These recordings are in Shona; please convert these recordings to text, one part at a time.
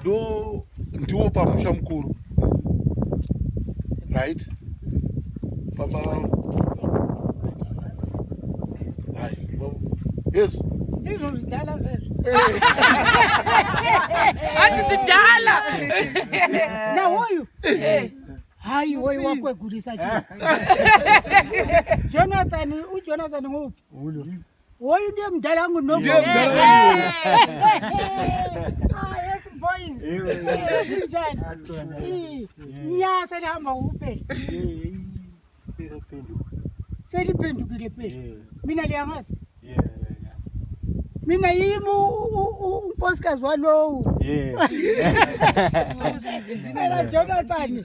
ndo ndiwo pamusha mukuru right baba yes ndizvo zvidala zvezvo hati zvidala nawoyu hayi woyu wakwegurisa chii jonathan ujonathan ngoupi Hoyu ndiye mudhara wangu noko. Ndiye mudhara wangu. Ah, yes boys. Njani? Ii, Nyasa ndihamba upe. Seliphendukile phela. Mina liyangazi. Mina yimi u- u- u- unkosikazi walowo. Ndinela Jonathan.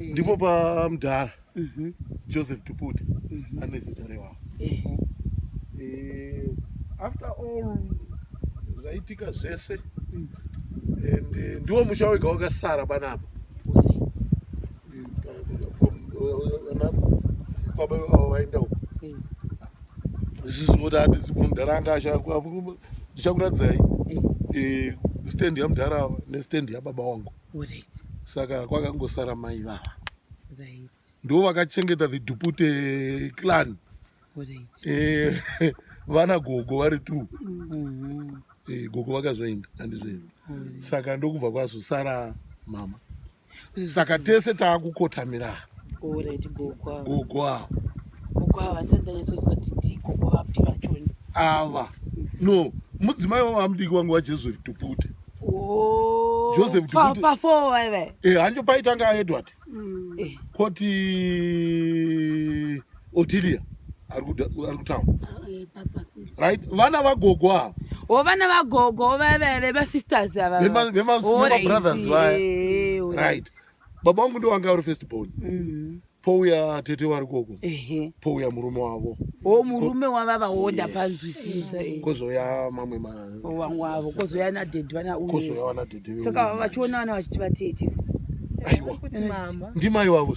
ndipo pamudhara mhm. joseph tuputi mhm. ane zita rewavo eh, after all zvaitika zvese mm. and eh, ndiwo musha wega wakasara panapa baba vavo vaenda uko mm. zvizivoda hatizi mudhara anga ndichakuradzai mm. eh, stand yamudhara nestand yababa wangu saka kwakangosara mai vava ndo vakachengeta the dupute clan eh, vana gogo vari t mm-hmm. eh, gogo vakazoenda andizveno saka ndokubva kwazosara mama saka tese taakukotamira gogo ava ava no mudzimai wavo amudiki wangu wajesu dupute Oh, Joseph pa- Tukuti. pa four vaive. Eh, hanjo paitanga aedward Eh, koti otilia ari kuda- ari kutown Eh, papa. right vana vagogo ava wo vana vagogo vaive vevasisters ava Vema- vema- vemabrothers vaya. right baba wangu ndiwo anga ari first born mm. pouya tete wari koko pouya murume wavo o oh, murume wavava woda panzwisisa eh. kozouya mamwe mawangu oh, avo kozouya nadhedhi vanauyozouya vanadhedhi vesaka vachiona vana vachiti vatete aiwa ndimai vavo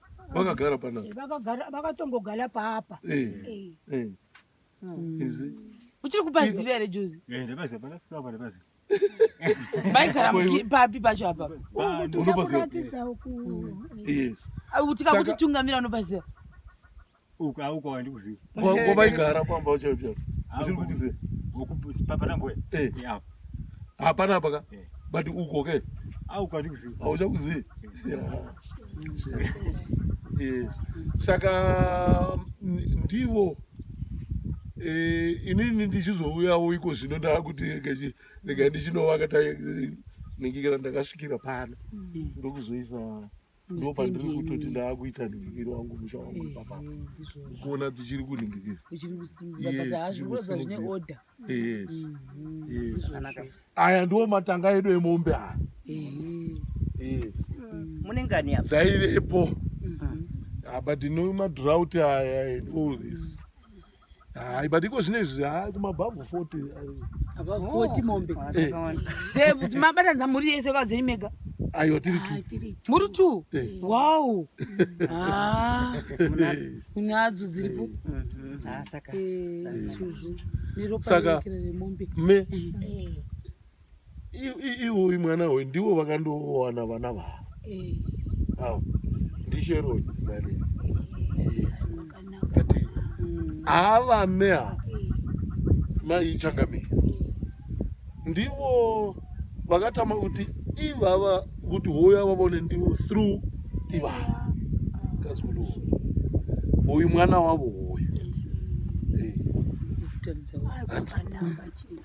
vakagara pana vakatongogara paapa uchiri kupaziva here jozi vaigara papi pacho apa tikakuti tungamira unopaziva uko auko wandikuziva ngo vaigara pamba ucho ucho uchiri kukuziva hapana mboya eh. eh, hapana apa ka eh. but uko ke auko wandikuziva hauchakuzivi yes saka ndivo inini ndichizouyawo iko zvino ndakuti rega ndichinovaka nengikira ndakasvikira pano mm. ndokuzoisa ndo pandiri kutoti ndaakuita ningikiri wangu musha wangu ipapa kuona tichiri kuningikira aya ndiwo matanga edu emombe aya dzaivepo but no madrought aya and all this mm -hmm. Hayi but iko zvine izvi hayi kumabhabhu 40 Above 40 mombe. Eh, Dze- kuti mabatanidza mhuri yese kwadzenyu mega. aiwa tiri two Muri two. Eh. Wow. Ah, unadzo dziripo. Ah, saka. Eh, izvozvo. Neropa Saka- rinokira remombe. me iwoyi mwana hoyi ndiwo vakandowana vana vavo eh. awo ndisheroi zina rei kati mm. avame avo eh. mai changamire eh. ndivo vakatama kuti ivava kuti hoyo avavone ndivo through ivava kazukulu hoyu mwana wavo hoyu mm.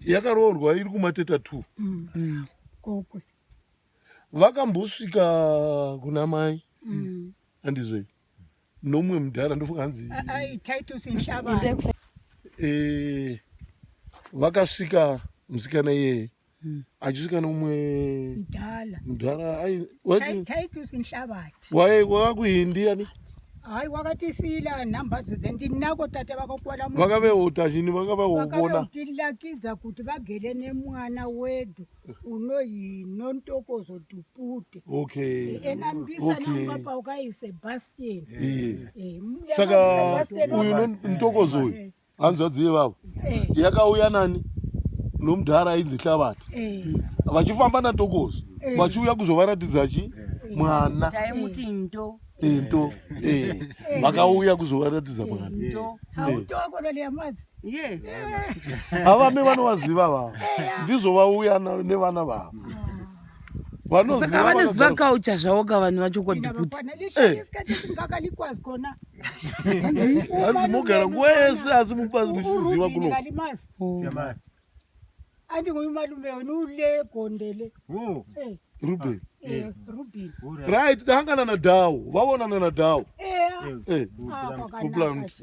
yakaroorwa iri kumateta t mm. kokwe vakambosvika kuna mai mm. andizve nomwe mudhara ndofunga hanzi eh, vakasvika musikana iyeye hmm. achisvika neumwe mudhara waiva kuindiani hayi wakatisiyila nhamba dzidze ndinako tate vakakwala vakaveota chini vakavaotilakidza kuti vagere nemwana wedu unoyi nontokozo dupute okay ena mbisa nanga paukaise bastian saka uyu ntokozo uyu hanzvadzi yevavo eh. yakauya nani nomudhara ainzi hlavati eh. vachifamba natokozo eh. vachiuya kuzovaratidza chi mwana taimuti ndo ndo vakauya kuzovaratidza mwana havame vanovaziva vavo ndizvo vauya nevana vavo ah. saka vanoziva kaucha zvavo ka vanhu vacho kodiputihanzi eh. mogara nguva yese asi mubazi muchiziva kuno ati nguyu malume wenu ule gondele eh. ruben eh, right tahangana na dawo vavonana na dawo kuplant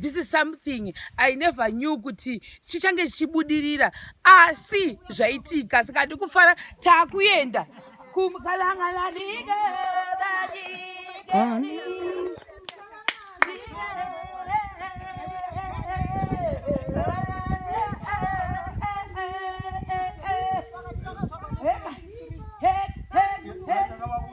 this is something i never knew kuti chichange chichibudirira asi zvaitika saka hadi kufara taakuenda kumkalangalanike Hey, hey, hey, hey.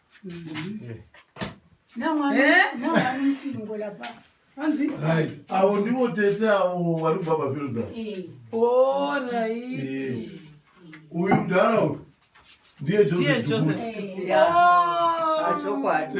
avo ndivo tete avo vari kubva pafilza uyu mdhara uyu ndiye josephchokwadichokwadi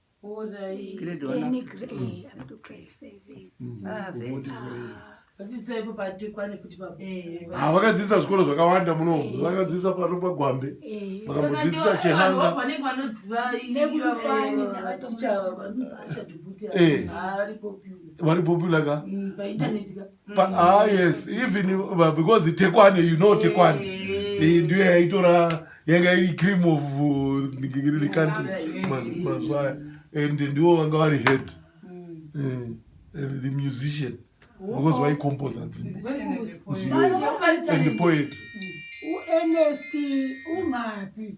Ah, vakadzidzisa zvikoro zvakawanda muno eh. vakadzidzisa pano pagwambe eh. vakamudzidzisa chehanga vari popular ka mm, Pa, mm. ah, yes even uh, because tekwane you know tekwane mm. eh, ndiyo yaitora yanga iri cream of uh, the country mazuva aya and ndiwo vanga vari head mm. eh, and the musician because waicomposa dzimbo and the poet uernest ungapi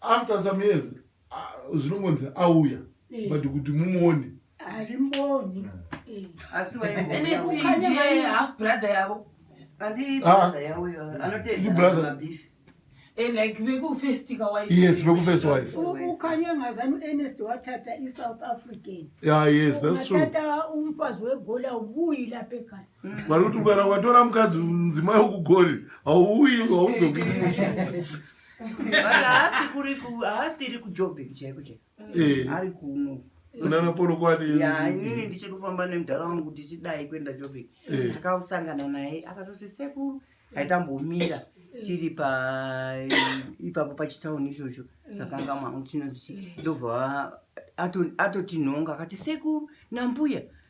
after some years zvinongonzi auya eh. but kuti mumuone alimboni hmm. eh. asi half brother yavo yes vekufirst wife ukanyangazani uernest watata isouth african yeah, yes, that's true. umfazi wegola ubuyi lapha ekhaya vari kuti kana watora mukadzi mudzimai wekugori hauuyi haudzoki haasiri kujobheki chaiko chaiko eh. ari kuno kunana polokwani ya inini ndichiri kufamba nemudhara wangu tichidai kuenda jobheki eh. takasangana naye akatoti sekuru aitambomira tiri paipapo pachitsauni ichocho takanga mwangu tinozii ndobva atotinhonga akati sekuru nambuya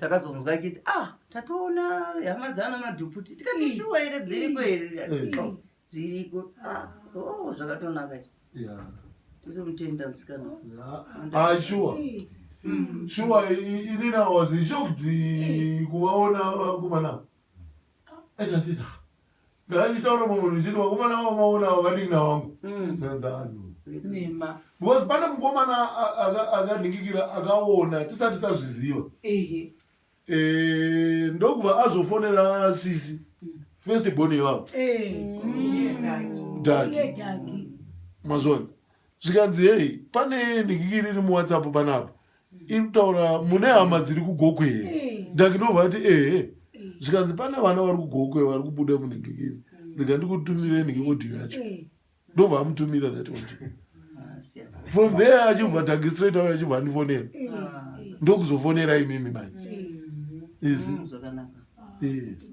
takazonzwa chiti ah tatoona hama dzana madhuputi tikati shuwa here dziriko here dziriko ah, oh, zvakatonaka izvi tozomutenda musikana ah, shuwa mm. shuwa inina was shocked kuvaona vakomana aitasitaa ndanditaura mumwe ndichiti vakomana avo vaona avo vanin'ina wangu mm. ndanzi anhu because pane mukomana akandingikira akaona tisati tazviziva e, ndokubva azofonera sisi mm. first born yevavo eh. mm. daki mazvona zvikanzi hei pane ndingikiri iri muwhatsapp panapa iri kutaura mune hama dziri kugokwe here eh. ndakinobva ati ehe eh. zvikanzi pane vana vari kugokwe vari kubuda munhingikiri mm. ndika ndikutumire nhingikodiyo yacho eh. ndobva amutumira that audio ah, from there achibva tangi straight auya achibva andifonera ah. ndokuzofonera imimi manje mm. izi mm, yes.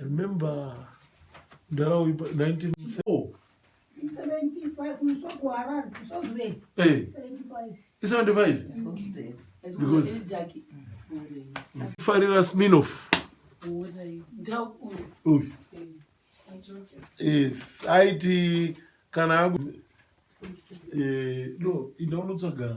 I remember mdara uyu 1974 farira sminof yes aiti kana eh, no indaonotsvaga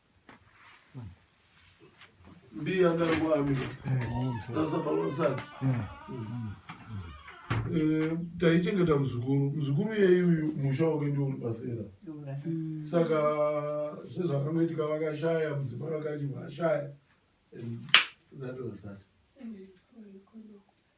Mbiya ngarwa amira. Sasa baba saka. Eh, taichengeta muzukuru muzukuru yei uyu musha wake ndio uri pasera saka zvezvakangoitika vakashaya mudzimba vakachibva ashaya that was that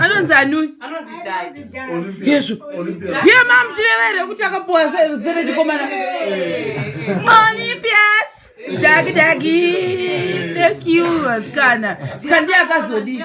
anonzi anuni yesu ndiye mamuchirevere kuti akapuwa zere chikomana monipias dagi dagi thank you asikana sika ndiye akazodii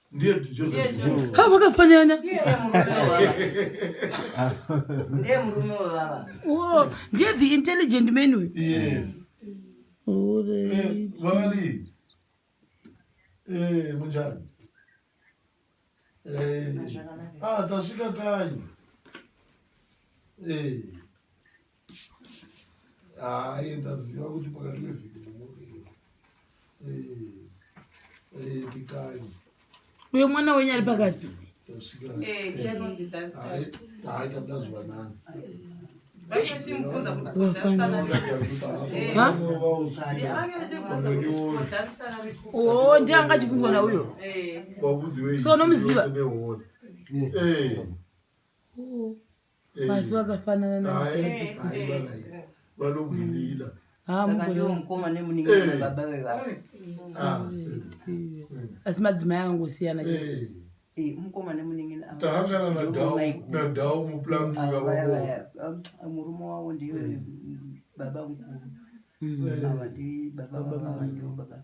ndiye Joseph. Ha vakafanana. Ndiye murume wevava. Oh, ndiye the intelligent man uyu. Yes. Oh, the eh, Vali. Eh, munjani? Eh. Ah, tasvika kanyi. Eh. hayi ndaziva kuti pakati mevhiki mumuriro pikanyi uyo mwana wenyu ari pakati ndazwanani o ndi anga achibvunzwa na uyo so nomuziva Basi wakafanana na vanogwirira asi madzimai angangosiyana mukoma nemuningina murume wavo ndiyo baba mukuru baba baba baba